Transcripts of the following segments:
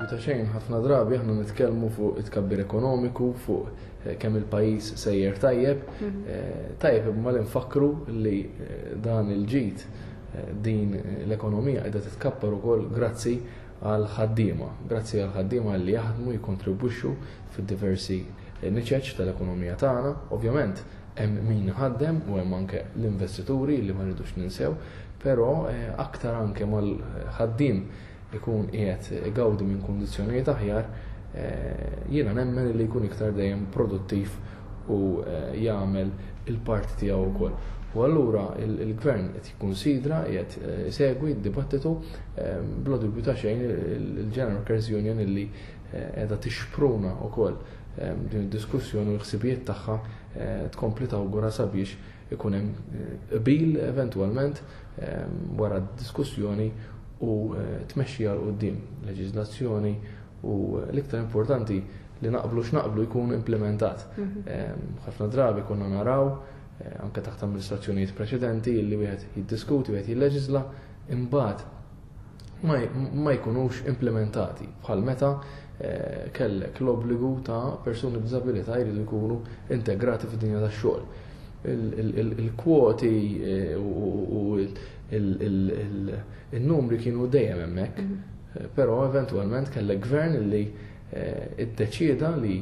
ta' xejn, ħafna drabi aħna nitkellmu fuq it-kabbir ekonomiku, fuq eh, kemm il-pajjiż sejjer tajjeb, mhm. eh, tajjeb imma li nfakru li eh, dan il-ġid din l-ekonomija qiegħda titkappar ukoll grazzi għal ħaddiema, grazzi għal ħaddiema li jaħdmu jikontribwixxu fid-diversi niċeċ tal-ekonomija tagħna, ovvjament Hemm min iħaddem u hemm anke l-investituri li ma rridux ninsew, però aktar anke ma l-ħaddiem ikun qiegħed igawdi minn kundizzjonijiet aħjar, jiena nemmen li jkun iktar dejjem produttiv u jagħmel il-parti tiegħu wkoll. U allura l-Gvern qed jikkunsidra, qiegħed isegwi d-dibattitu, bla dubju ta' xejn il-General Workers' Union li qiegħda tixpruna wkoll, din id-diskussjoni u l-ħsibijiet tagħha eh, tkompli tawgura sabiex ikun hemm eh, qbil eventwalment eh, wara d-diskussjoni u tmexxi għal qudiem leġiżlazzjoni u l-iktar importanti li naqblu x'naqblu jkun implementat. Mhm. Ħafna drabi konna naraw anke taħt amministrazzjonijiet preċedenti li wieħed jiddiskuti, wieħed jilleġisla, imbagħad ma jkunux implimentati, bħal meta kellek l-obbligu ta' persuni b'diżabilità jridu jkunu integrati fid-dinja tax-xogħol. Il-kwoti u n-numri kienu dejjem hemmhekk, però eventwalment kellek Gvern li ddeċieda li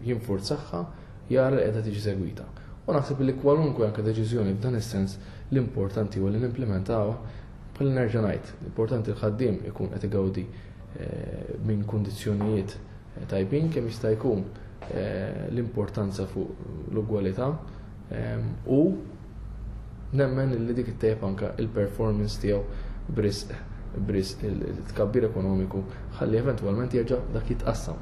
jinfurzahha, jara li qiegħda tiġi segwita. U naħseb li kwalunkwe anke deċiżjoni f'dan is-sens l-importanti huwa li nimplimentawha Bħal nerġa' ngħid, importanti l-ħaddiem ikun qed igawdi eh, minn kundizzjonijiet eh, tajbin kemm jista' jkun eh, l-importanza fuq l-ugwalità ehm, u nemmen li dik it-tejb anka il-performance tiegħu brisq brisq il-tkabbir ekonomiku ħalli eventwalment jerġa' dak jitqassam.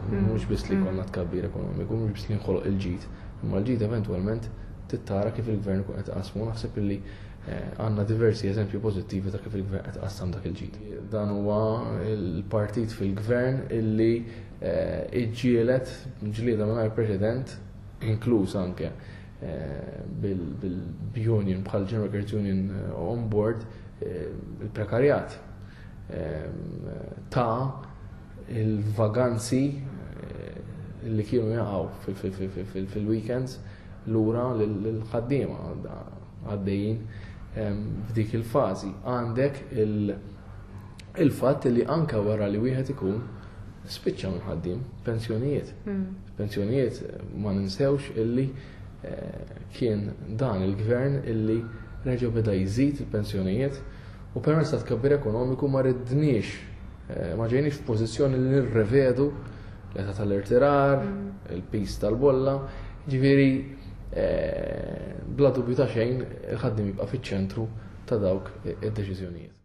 Hmm. Mhux biss li hmm. konna tkabbir ekonomiku, mhux biss li nħoloq il-ġid, imma l-ġid eventwalment tittara kif il-gvern kun qed qasmu naħseb illi Eh, għanna diversi eżempju pozittivi ta' kif il-gvern qed qassam dak il-ġid. Dan huwa il-partit fil-gvern illi eh, iġġielet ġlieda mingħajr preċedent inkluż anke eh, bil-union bħal General Workers Union on board il-prekarjat ta' il-vaganzi li kienu jaqgħu fil-weekends lura l-ħaddiema għaddejjin f'dik il-fażi. Għandek il-fatt li anke wara li wieħed ikun spiċċa mħaddim pensjonijiet. Hmm. Pensjonijiet ma ninsewx illi eh, kien dan il-gvern illi reġgħu beda jżid il-pensjonijiet u permezz ta' tkabbir ekonomiku ma ridniex Eh, ma ġejni f'pożizzjoni li nirrevedu l-età tal-irtirar, mm. il-pis tal-bolla, ġifieri eh, bla dubju ta' xejn il-ħaddim jibqa' fiċ-ċentru ta' dawk id-deċiżjonijiet.